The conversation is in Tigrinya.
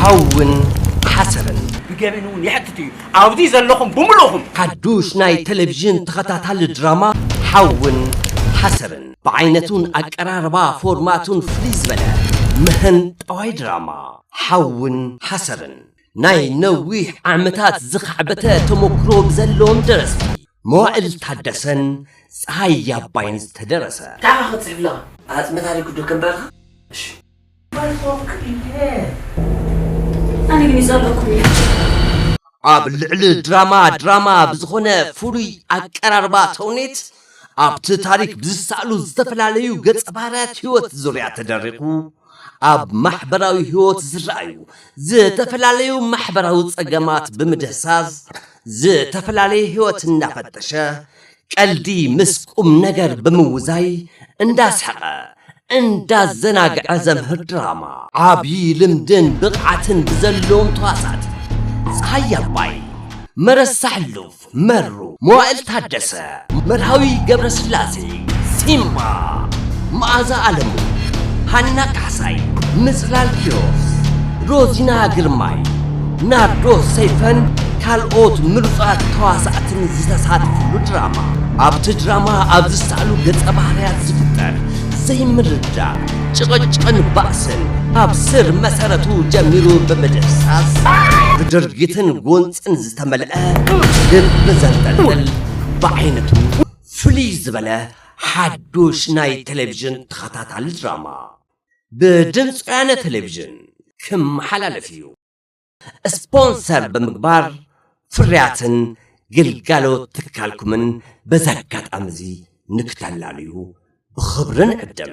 ሓውን ሓሰርን ብገበን እውን የሕትት እዩ ኣብዚ ዘለኹም ብምልእኹም። ሓዱሽ ናይ ተለቪዥን ተኸታታሊ ድራማ ሓውን ሓሰርን ብዓይነቱን ኣቀራርባ ፎርማቱን ፍልይ ዝበለ ምህንጣዋይ ድራማ ሓውን ሓሰርን ናይ ነዊሕ ዓመታት ዝኻዕበተ ተሞክሮ ብዘለዎም ደረስቲ መዋእል ታደሰን ፀሃይ ኣባይን ዝተደረሰ። እንታይ ኢኻ ክትፅሕፍ ዘለኻ? ኣፅመ ታሪኩ ዶ ከንብበልካ? እሺ። ኣብ ልዕሊ ድራማ ድራማ ብዝኾነ ፍሉይ ኣቀራርባ ተውኔት ኣብቲ ታሪክ ብዝሰኣሉ ዝተፈላለዩ ገፀ ባህርያት ህይወት ዙርያ ተደሪኹ ኣብ ማሕበራዊ ህይወት ዝረኣዩ ዝተፈላለዩ ማሕበራዊ ፀገማት ብምድህሳስ ዝተፈላለየ ህይወት እናፈተሸ ቀልዲ ምስ ቁምነገር ብምውዛይ እንዳስሐቐ እንዳዘናግዐ ዘምህር ድራማ። ዓብዪ ልምድን ብቕዓትን ብዘለዎም ተዋሳእቲ፣ ፀሃየ ኣባይ፣ መረሳ ሕሉፍ፣ መሩ፣ መዋእል ታደሰ፣ መርሃዊ ገብረስላሴ፣ ሲምባ፣ መኣዛ ኣለሙ፣ ሃና ካሕሳይ፣ ምፅላል ኪሮስ፣ ሮዚና ግርማይ፣ ናርዶስ ሰይፈን ካልኦት ምሩፃት ተዋሳእትን ኣርቲስትን ዝተሳተፍሉ ድራማ። ኣብቲ ድራማ ኣብ ዝሰኣሉ ገፀ ባህርያት ዝፍጠር ዘይምርድዳእ፣ ጭቕጭቕን ባእስን ኣብ ስር መሰረቱ ጀሚሩ ብምድህሳስ ብድርጊትን ጎንፅን ዝተመልአ ልቢ ዘንጠልጥል ብዓይነቱ ፍልይ ዝበለ ሓዱሽ ናይ ቴሌቪዥን ተኸታታሊ ድራማ ብድምፂ ወያነ ቴሌቪዥን ክመሓላለፍ እዩ። ስፖንሰር ብምግባር ፍርያትን ግልጋሎት ትካልኩምን በዚ ኣጋጣሚ እዚ ንክተላልዩ ብኽብሪ ንዕድም።